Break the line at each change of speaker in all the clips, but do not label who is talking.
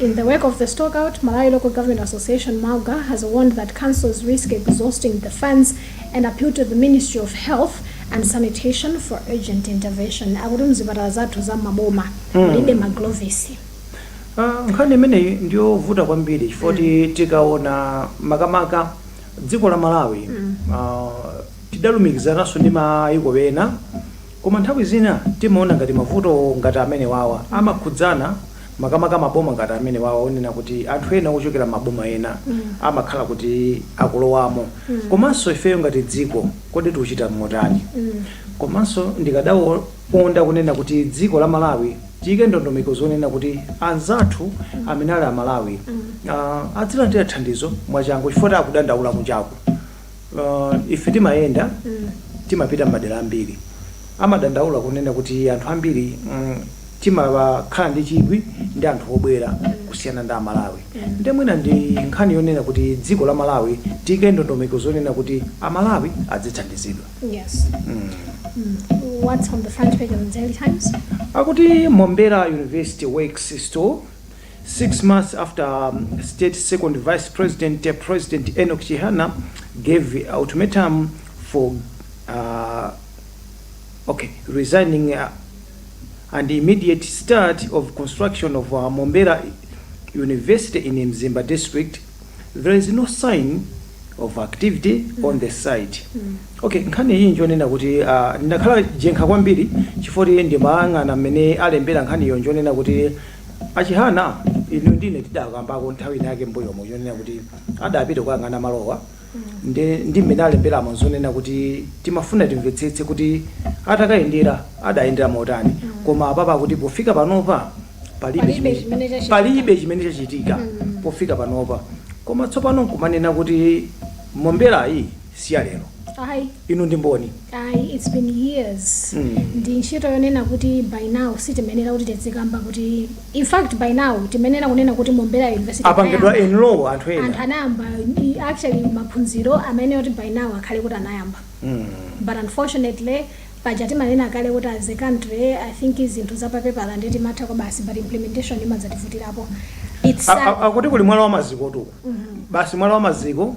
In the wake of the stockout, Malawi Local Government Association Malga has warned that councils risk exhausting the funds and appeal to the Ministry of Health and Sanitation for urgent intervention. Akuti mzipatala zathu za maboma mulibe maglovesi.
Ah, nkhani imeneyi ndiyovuta kwambiri chifoti tikaona makamaka dziko la malawi ah, tidalumikizananso ndi mayiko ena koma nthawi zina timaona ngati mavuto ngati amene wawa amakhudzana makamaka maboma ngati amenewawa onena kuti anthu ena ochokera m'maboma ena amakhala kuti akulowamo komanso ifeyo ngati dziko kodi tikuchita motani komanso ndikadakonda kunena kuti dziko la malawi tiyike ndondomeko zonena kuti anzathu amene ali amalawi ah, adzilandira thandizo mwachangu chifukwa akudandaula kunjaku Uh, ife timayenda timapita m'madera ambiri amadandaula kunena kuti anthu ambiri mm, timakhala ndi chidwi ndi anthu obwera kusiyana ndi amalawi nde mwina ndi nkhani yonena kuti dziko la malawi tiyike ndondomeko zonena kuti amalawi adzithandizidwa
Yes. mm. What's on the front page of the Daily Times? akuti
mombera university works stall Six months after State Second Vice President President Enock Chihana gave ultimatum for uh, okay resigning uh, and immediate start of construction of uh, Mombera University in Mzimba district, there is no sign of activity on the site. Okay, nkhani iyi njonena kuti uh, ndakhala jenkha kwambiri chifoti ndimayang'ana mmene alembera nkhaniyo njonena kuti achihana inu ndi ine tidakambako nthawi inayake mbuyomo yonena kuti adapita kuyang'ana malowa ndi ndi mmene alemberamo zonena kuti timafuna timvetsetse kuti atakayendera adayendera motani koma apapa akuti pofika panopa palibe Palibe chimene- chimene chachitika. palibe chimene chachitika pofika panopa koma tsopano nkumanena kuti momberayi si ya lero Ayi, inu ndi mboni ayi, it's
been years. Mm. Ndi ntchito yonena kuti by now sitimenera kuti tizikamba kuti in fact by now timenera kunena kuti Mombera University apangidwa anayamba. enroll
anthu Anthu ena anayamba i-
actually maphunziro amene kuti by now akhale kuti anayamba. Mm. But unfortunately paja timanena kale kuti as a country I think zinthu zapapepala nde timatha kwa basi but implementation imadzativutirako. It's A- sad. a- akuti kuli mwala
wa mazikotu basi mwala wa maziko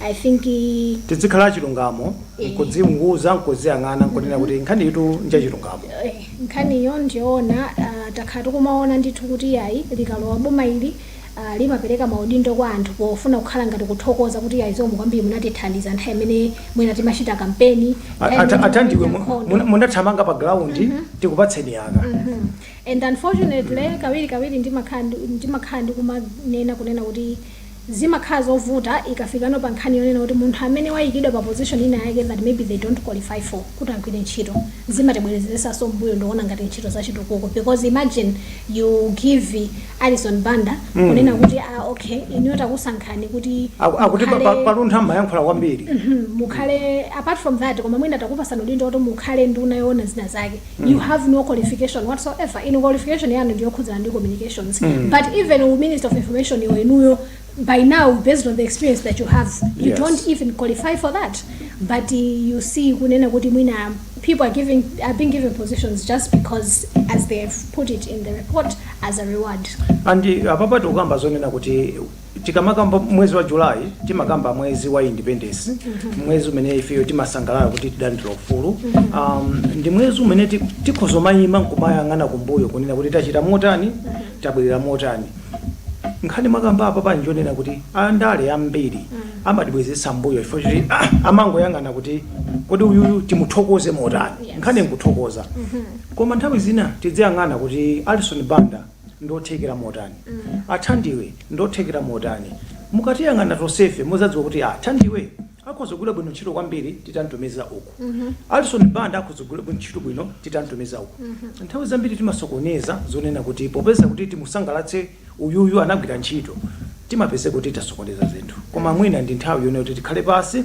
I think eh,
tidzikhala achilungamo Eh. nkudziunguza nkuziyang'ana nkunena kuti nkhani itu njachilungamo eh, nkhaniyo
ndiyoona ah, takhala tikumaona ndithu kuti yayi likalowa boma ili ah, limapereka maudindo kwa anthu pofuna kukhala ngati kuthokoza kuti yayi zomwe kwambiri munatithandiza nthawi imene mwina timachita kampeni A- nthawi ata- imene a
Thandiwe timachita mu- nkhondo. mu- munathamanga pa ground tikupatseni aka Mhm. and
unfortunately kawiri kawiri ndimakhala ndi- ndimakhala ndikumanena kunena kuti zimakhala zovuta ikafikano pa nkhani yonena kuti munthu amene wayikidwa pa position ina yake that maybe they don't qualify for kuti agwire ntchito zimatibwezeretsanso mmbuyo ndikuona ngati ntchito za chitukuko because imagine you give Alison Banda kunena kuti ah okay inuyo takusankhani kuti Aku- akuti pa- pa-
mukhale- pa Luntha mumayankhula kwambiri Mhm, mukhale
apart from that koma mwina takupatsani udindo kuti mukhale nduna yoona zina zake you have no qualification whatsoever inu qualification yanu ndiyokhudzana ndi communications but even u minister of information iwo inuyo by now based on the experience that you have you Yes. don't even qualify for that but uh, you see kunena kuti mwina people are giving are being given positions just because as they have put it in the report as a reward andi apapa
tikukamba zonena kuti Tikamakamba mwezi wa July timakamba mwezi wa independence, mwezi umene ifeyo timasangalala kuti tidalandira ufulu. Um, ndi mwezi umene ti- tikhoza kumayima nkumayang'ana kumbuyo kunena kuti tachita motani, tabwerera motani. Nkhani mwakamba apapa nji yonena kuti andale ambiri amatibwezeretsa mbuyo chifo kuti ah, amangoyang'ana kuti kodi uyuyu timuthokoze motani. Yes. Nkhani nkuthokoza. Koma nthawi zina tidziyang'ana kuti Alison Banda ndiothekera motani a thandiwe ndiothekera motani mukatiyang'ana tonsefe mudzadziwa kuti a thandiwe akhoza kugwira bwino ntchito kwambiri titamtumiza uku alison banda akhoza kugwira bwino ntchito bwino titamtumiza uku nthawi zambiri timasokoneza zonena kuti popeza kuti timusangalatse uyuyu anagwira ntchito timapeza kuti tasokoneza zinthu koma mwina ndi nthawi yonena kuti tikhale pansi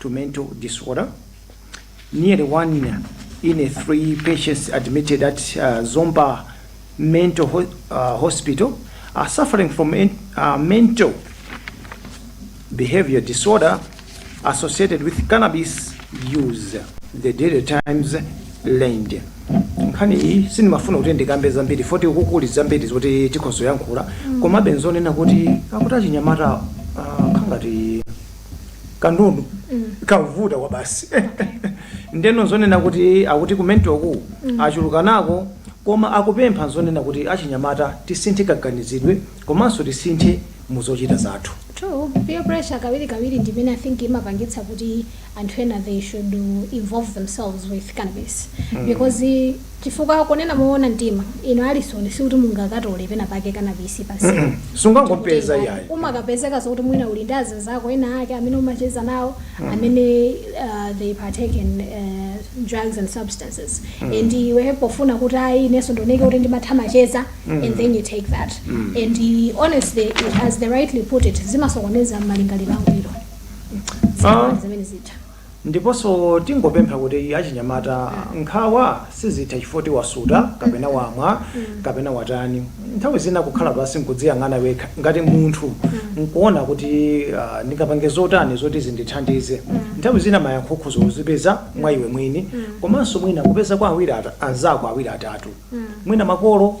to mental disorder. Nearly one in a three patients admitted at uh, Zomba Mental ho- uh, Hospital are suffering from en- uh, mental behavior disorder associated with cannabis use. The Daily Times learned. nkhani iyi sindimafuna kuti ndikambe zambiri foti kuli zambiri zoti tikhozoyankhula komabe nzonena kuti akuti achinyamata ah, khangati kanundu kavuta kwabasi ndeno nzonena kuti akuti ku mental-ku achulukanako koma akupempha zonena kuti achinyamata tisinthe kaganizidwe komanso tisinthe mu zochita zathu True, peer
pressure kawiri kawiri ndi imene I think imapangitsa kuti anthu ena they should involve themselves with cannabis because Chifukwa, kunena mowona mtima, inu Alisoni, sikuti mungakatole penapake cannabis pa msewu, Mm-mm. ndi Sungangopeza,
kutenga. iyayi. Umakapezeka zokuti mwina
uli ndi azinzako ena ake amene umacheza nawo, amene uh, they partake in uh, drugs and substances. And iwe pofuna kuti ayi inenso ndioneke kuti ndimatha macheza, and then you take that. And uh, honestly, as they rightly put it, zimasokoneza malingaliro angwiro. Ah. Zimene zija.
Ndiponso tingopempha kuti achinyamata nkhawa sizitha chifukwa choti wasuta kapena wamwa kapena watani. Nthawi zina kukhala pansi n'kudziyang'ana wekha ngati munthu n'kuona kuti ndingapange zotani zoti zindithandize. Nthawi zina mayankho ukhoza kuzipeza mwa iwe mwini komanso mwina kupeza kwa anzako awiri atatu mwina makolo.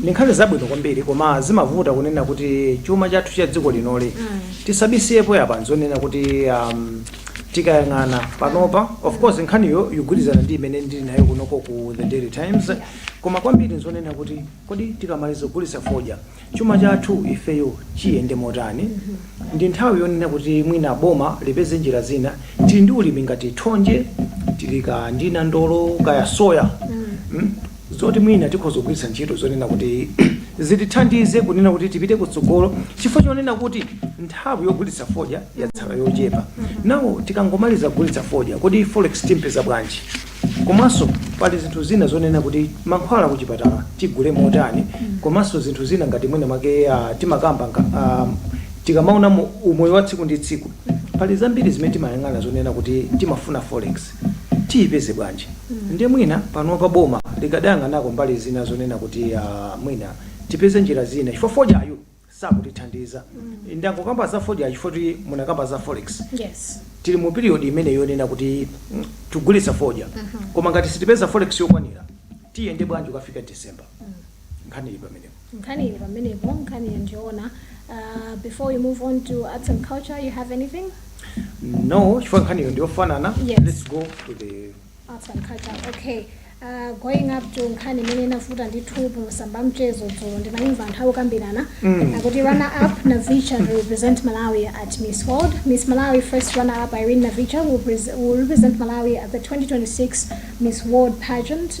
Ndi nkhani zabwino kwambiri koma zimavuta kunena kuti chuma chathu cha dziko linoli tisabisiyepo apa nzonena kuti um, tikayang'ana panopa of course nkhaniyo yogwirizana ndi imene ndili nayo kunoko ku the daily times koma kwambiri nzonena kuti kodi tikamaliza kugulitsa fodya chuma chathu ifeyo chiyende motani ndi nthawi yonena kuti mwina boma lipeze njira zina tili ndi ulimi ngati thonje tili kaya ndi nandolo kaya soya mm. zoti mwina tikhoza kugwiritsa ntchito zonena kuti zitithandize kunena kuti tipite kutsogolo chifukwa chonena kuti nthawi yogulitsa fodya yatsala yochepa nawo tikangomaliza kugulitsa fodya kodi forex tiyipeza bwanji komanso pali zinthu zina zonena kuti mankhwala kuchipatala tigule motani komanso zinthu zina ngati mwina mwake ah, timakamba nga- ah, tikamaona mu- umoyo wa tsiku ndi tsiku pali zambiri zimene timayang'ana zonena kuti timafuna forex tiyipeze bwanji nde mwina panopa boma likadayang'anako mbali zina zonena kuti ah, mwina tipeze njira zina chifukwa fodyayu sakutithandiza ndangokamba za fodya chifukwa choti munakamba za forex yes tili
mu period imene
yonena kuti mm, tigulitsa fodya koma ngati sitipeza forex yokwanira tiyende bwanji ikafika december nkhani ili pamenepo Nkhani ili pamenepo, nkhaniyo
ndiyoona. Uh, before we move on to arts and culture, you have anything?
No, chifukwa nkhaniyo ndiyofanana. Yes. Let's go
to the
Arts and culture.
Okay. Uh, going up to nkhani imene inavuta ndithu pamasamba a mchezo dzulo ndimayimva anthu akukambirana Mm. akuti runner up navicha to represent malawi at miss world miss malawi first runner up irene navicha will, pres- will represent malawi at the 2026 miss world pageant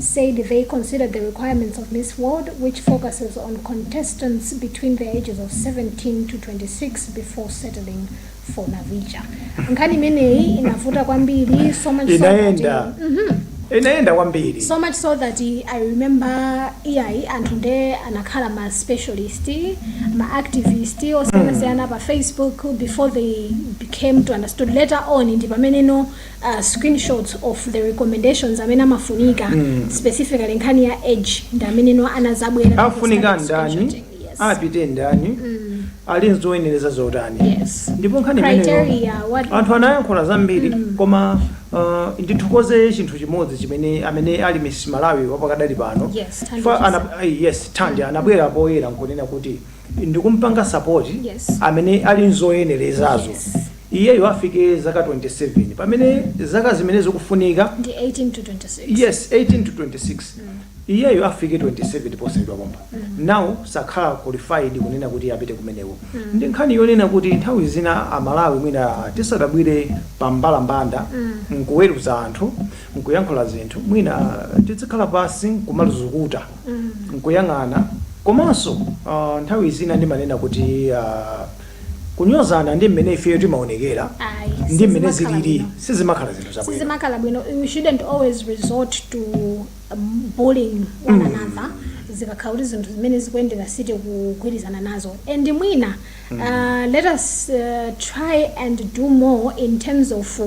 said they considered the requirements of Miss World, which focuses on contestants between the ages of 17 to 26 before settling for Navicha. Nkhani imeneyi inavuta kwambiri so much so that Inaenda. Inaenda
kwambiri. so much so that i
I remember iyayi anthu nde anakhala ma specialist ma activist osiyanasiyana pa facebook before they became to understood later on ndi pamene no uh, screenshots of the recommendations amene amafunika mm. specifically nkhani ya age ndi amene no anazabwera afunika ndani
apite ndani mm. ali nzoyenereza zotani yes. ndipo nkhani
imeneyo
anthu anayankhula zambiri mm. koma uh, ndithokoze chinthu chimodzi chimene amene ali miss malawi wapakadali pano yes,
ana, eh, yes
thandi mm. anabwera poyera nkunena kuti ndikumpanga sapoti yes. amene
ali
nzoyenerezazo yes.
iyeyu
afike zaka 27 pamene zaka zimene zikufunika ndi
18 to 26 yes 18 to
26 mm. iyeyu afike 27 posachedwa pompa mm. now sakhala qualified kunena kuti apite kumeneko mm. ndi nkhani yonena kuti nthawi zina amalawi mwina tisamabwere pa mbalambanda mm. nkuweruza anthu nkuyankhula zinthu mwina tizikhala pansi kumazukuta mm. nkuyang'ana komanso uh, nthawi zina ndimanena kuti uh, Kunyozana ndi mmene ifeyo timaonekera Ayi, ndi mmene sizimakhala zilili bwino. sizimakhala zinthu zabwino. sizimakhala bwino you shouldn't
always resort to um, bullying one another zikakhala kuti zinthu zimene zikuyendera sitikugwirizana nazo and mwina uh, let us uh, try and do more in terms of uh,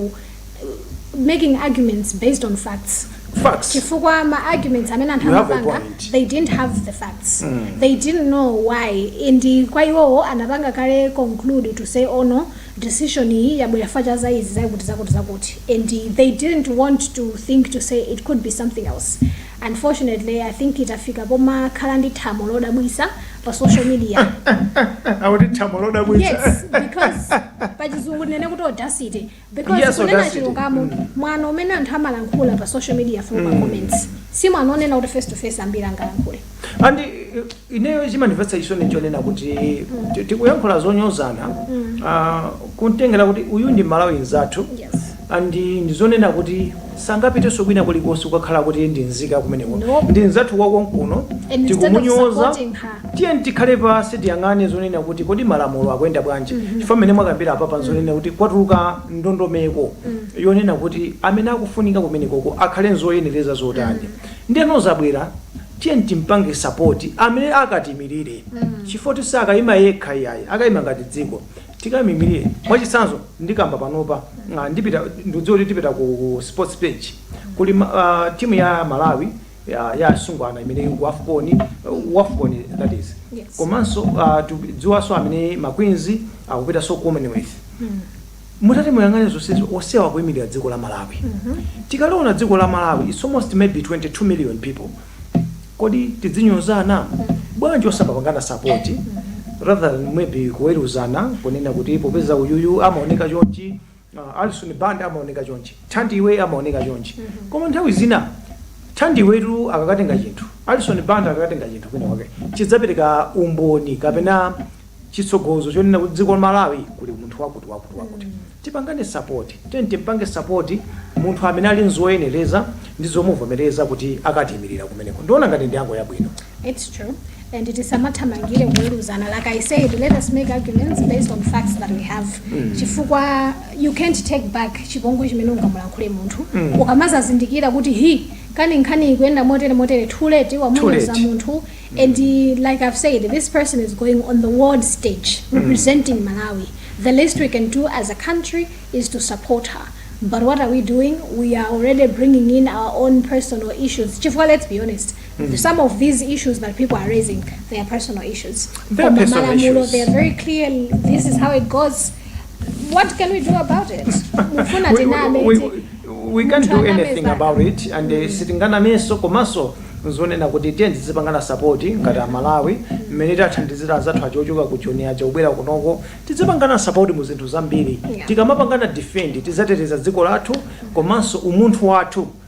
making arguments based on facts facts chifukwa ma arguments amene anthu You have a anapanga point. they didn't have the facts they didn't know why and kwa iwowo anapanga kale conclude to say oh no decision iyi yabwera chifukwa cha izi zakuti zakuti zakuti and they didn't want to think to say it could be something else unfortunately i think tafika pomakhala ndi thamo lodabwitsa pa social media akuti thamo lodabwitsa yes because pachizungu tinene kuti audacity because Yes, kunena audacity. chilungamo mwano umene anthu amalankhula pa social media from pa comments si mwano onena kuti face to face ambiri angalankhule
and eh, ineyo chimandimvetsa chisoni chonena kuti ti- tikuyankhula zonyozana
ah,
kumtengera kuti uyu ndi mmalawi mzathu yes and ndizonena kuti sangapitenso kwina kulikonse kukakhala kuti ndi nzika kumeneko Nope. ndi mzathu
wakonkuno and
instead of tikumunyoza
supporting her Tiyeni tikhale
pansi tiyang'ane zonena kuti kodi malamulo akuyenda bwanji chifukwa mmene mwakambira apapa nzonena kuti kwatuluka ndondomeko yonena kuti amene akufunika kumenekoko akhale nzoyenereza zotani ndiyeno zabwera tiyeni timpange support amene akatiimirire chifukwa kuti sakayima yekha iyayi akayima ngati dziko tikamuimirire mwachitsanzo ndikamba panopa ah, ndipita ndikudziwa kuti tipita ku sports page kuli ma- ah, timu ya Malawi ya ya asungwana imene ili ku afcon ku afcon that is Yes. komanso uh, tikudziwanso amene makwinzi akupitanso commonwealth mutati muyang'ane zonsezo onsewa kuyimirira dziko la malawi tikaliona dziko la malawi its almost maybe 22 million people kodi tizinyozana bwanji osapangana sapoti rather than maybe kuweruzana kunena kuti popeza uyuyu amaoneka chonchi Ah, Alison Banda amaoneka chonchi. Thandiwe amaoneka chonchi. Koma nthawi zina Thandiwetu akakatenga chinthu. Alison Banda akakatenga chinthu kwina kwake. Chidzapereka umboni kapena chitsogozo chonena kuti dziko la Malawi kuli munthu wakuti wakuti wakuti. Tipangane support. Tiyeni timpange support munthu amene ali nzoyenereza ndi zomuvomereza kuti akatiimirira kumeneko. Ndiona ngati ndi yanga yabwino. It's true.
and tisamathamangire kuweruzana like i said let us make arguments based on facts that we have mm. chifukwa you can't take back chipongwe chimene ungamulankhule munthu mm. ukamazazindikira kuti hi kani nkhani ikuyenda motere motere too late wamuuza munthu mm. and uh, like i've said this person is going on the world stage mm. representing mm. malawi the least we can do as a country is to support her but what are we doing we are already bringing in our own personal issues chifukwa let's be honest some of these issues that people are raising they are personal issues They are personal issues. Koma malamulo,
they are very
clear this is how it goes what can we do about it mufuna we, tiname we,
we, we can't do anything about it. Munthu aname zake. and uh, sitinganamenso komanso nzonena kuti tiyeni tizipangana sapoti ngati amalawi mmene tathandizira anzathu aja ochoka ku joni aja kubwera kunoko tizipangana sapoti mu zinthu zambiri Yeah. tikamapangana defend tizateteza dziko lathu komanso umunthu wathu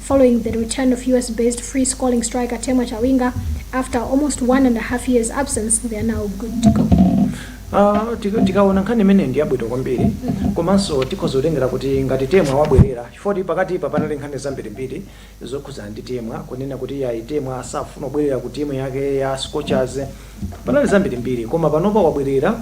following the return of US based free scoring striker Temwa Chawinga after almost one and a half years absence, they are now good to go. Ah, tika-
tikaona nkhani imene ndi yabwino kwambiri komanso tikhoza kutengera kuti ngati temwa wabwerera chifukwa pakatipa panali nkhani zambirimbiri zokhudzana ndi temwa kunena kuti ayi temwa safuna kubwerera ku timu yake ya scorchers Panali zambirimbiri, koma panopa wabwerera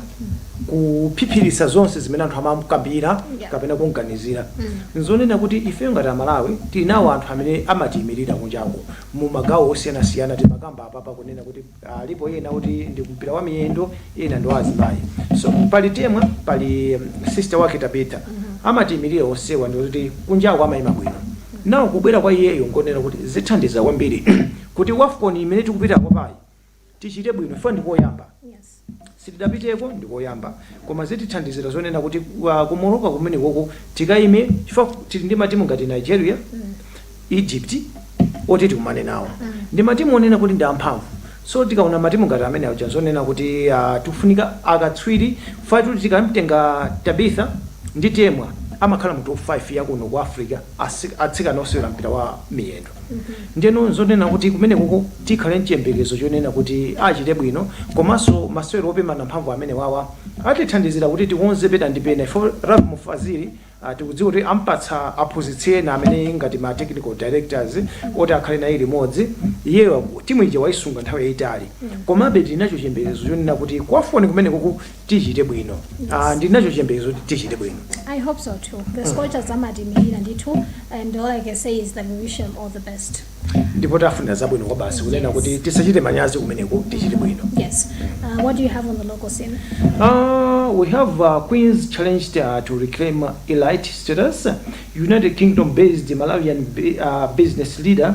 kuphiphiritsa zonse zimene anthu amamkambira Yeah. kapena kumganizira nzonena kuti ifeyo ngati amalawi tili nawo anthu amene amatiyimirira kunjako mu magawo osiyanasiyana timakamba apapa kunena kuti alipo ena kuti ndi mpira wa miyendo ena ndi wa azimayi so pali temwa pali um, sister wake tabitha amatiyimirira onsewa ndikuti kunjako amayima bwino nawo kubwera kwa iyeyo ngonena kuti zithandiza kwambiri kuti wafcon imene tikupita kwapayu tichite bwino ife ndikoyamba sitidapiteko ndikoyamba koma zitithandizira zonena kuti wa- ku Morocco kumenekoko tikaime chifukwa tili ndi matimu ngati Nigeria Egypt oti tikumane nawo ndi matimu onena kuti ndi amphamvu so tikaona matimu ngati amene aja zonena kuti ah, tikufunika akatswiri ifetu tikamtenga Tabitha ndi Temwa amakhala mu top 5 yakuno ku Africa asi- atsikana osewera mpira wa miyendo Ndiyeno n'zonena kuti kumenekoko tikhale n'chiyembekezo chonena kuti achite bwino komanso masewero opimana mphamvu amenewawa atithandizira kuti tikonze pena ndi pena chifukwa Lovemore Fazili ah, tikudziwa kuti ampatsa aphunzitsi ena amene ngati ma technical directors oti akhale naye limodzi iyeyo timu ija waisunga nthawi yayitali komabe tili nacho chiyembekezo chonena kuti ku WAFCON kumenekoko tichite bwino Ah, ndili nacho chiyembekezo kuti tichite bwino I hope so
too. The scorchers amatiyimirira ndithu and all I can say is that we wish them all the best.
ndipo tawafunira zabwino kwa basi kunena Yes. kuti tisachite manyazi kumeneko tichite bwino Yes. Uh,
what do you have on the local scene? Uh,
we have uh, Queens challenged uh, to reclaim uh, elite status. United Kingdom based Malawian bu- uh, business leader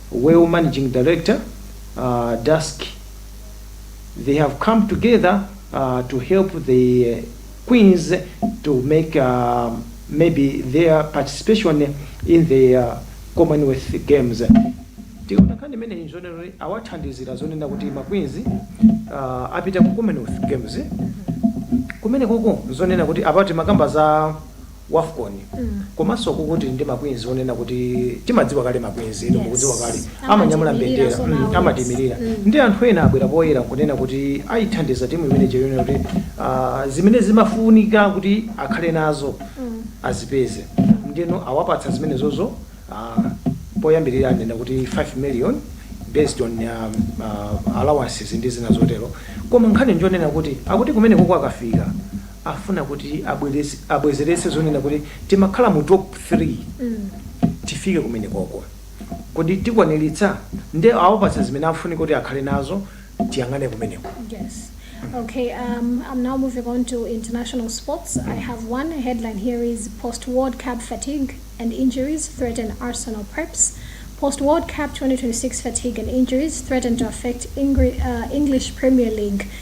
well managing director Dusk they have come together to help the queens to make maybe their participation in the commonwealth games tikaona nkhani imeneyi nzonena kuti awathandizira zonena kuti ma queens apita ku commonwealth games kumene koko nzonena kuti apa timakamba za wafcon komanso kukuti ndi ma Queens onena kuti timadziwa kale ma Queens inu Yes. mukudziwa kale Amatiimirira amanyamula mbendera so mm, nawo. amatiimirira Mm. ndi anthu ena abwera poyera kunena kuti ayithandiza timu imene poonera kuti ah, zimene zimafunika kuti akhale nazo azipeze ndino awapatsa zimenezozo ah, poyambirira anena kuti 5 million based on um, uh, allowances ndi zina zotero koma nkhani njonena kuti akuti kumeneko kwakafika afuna kuti abwezeretse zonena kuti timakhala mu top 3 tifike kumenekoko kodi tikwaniritsa nde awapatsa zimene afunika kuti akhale nazo tiyang'ane kumeneko Yes.
Okay, um, I'm now moving on to international sports. I have one headline here is Post World Cup fatigue and injuries threaten Arsenal preps. Post World Cup 2026 fatigue and injuries threaten to affect Ingri- uh, English Premier League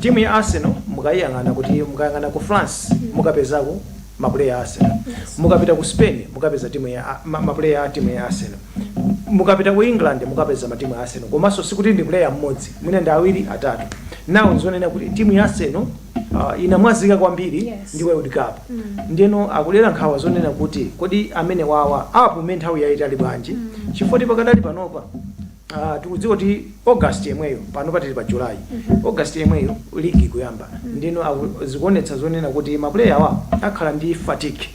Timu ya Arsenal mukayiyang'ana kuti mukayang'ana ku France mukapezako mapuleya a Arsenal. Mukapita
ku
Spain mukapeza timu ya a- ma- mapuleya a timu ya Arsenal. Mukapita ku England mukapeza matimu a Arsenal. Komanso sikuti ndi puleya mmodzi, mwina ndi awiri atatu. Now nzonena kuti timu ya Arsenal uh, inamwazika kwambiri Yes. ndi World Cup. Ndeno akulera nkhawa zonena kuti kodi amenewawa apume nthawi yayitali bwanji? Chifukwa pakadali panopa Uh, tikudziwa kuti August yemweyo panopa tili pa July August yemweyo league ikuyamba ndino aku- zikuonetsa zonena kuti mapuleya awa akhala ndi fatigue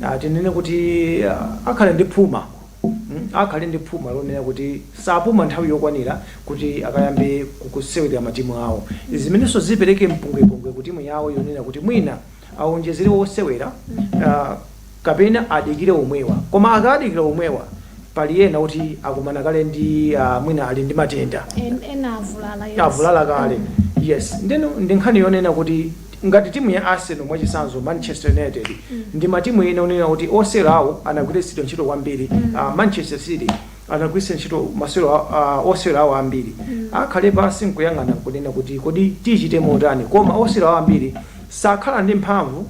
uh, tinene kuti uh, akhala ndi phuma Mm, akhale ndi phuma lonena kuti sapuma nthawi yokwanira kuti akayambe kusewerera matimu awo zimenenso zipereke mpungwepungwe ku timu yawo yonena kuti mwina awonjezere osewera uh, kapena adikire omwewa koma akadikira omwewa pali ena oti akumana kale ndi ah, mwina ali ndi matenda En- ena avulala
yes. avulala
kale yes ndeno ndi nkhani yonena kuti ngati timu ya arsenal mwachisanzo manchester united ndi matimu ena onena kuti osewera awo anagwiritsidwa ntchito kwambiri Ah, manchester city anagwiritsa ntchito masewero a- a- osewera awo ambiri akhale pansi nkuyang'ana kunena kuti kodi tichite motani koma osewera awo ambiri sakhala ndi mphamvu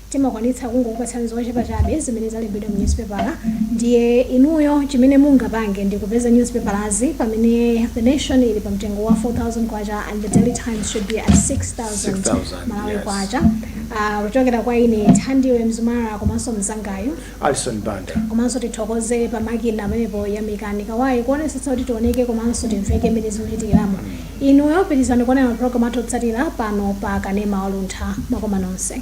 Timakwanitsa kungokupatsani zochepa chabe zimene zalembedwa mu nyuzipepala ndiye inuyo chimene mungapange ndi kupeza nyuzipepalazi pamene The Nation ili pa mtengo wa K4000 and The Daily Times should be at K6000 Malawi Kwacha kuchokera kwa ine Thandiwe Mzumara komanso mnzangayu Alison
Banda. komanso
tithokoze pa makina pamenepo Yamikani Kawayi kuonesetsa kuti tioneke komanso timveke mmene zikuchitikiramo inuyo pitirizani kuonera mapulogalamu athu otsatira pano pa kanema wa Luntha mwakoma nonse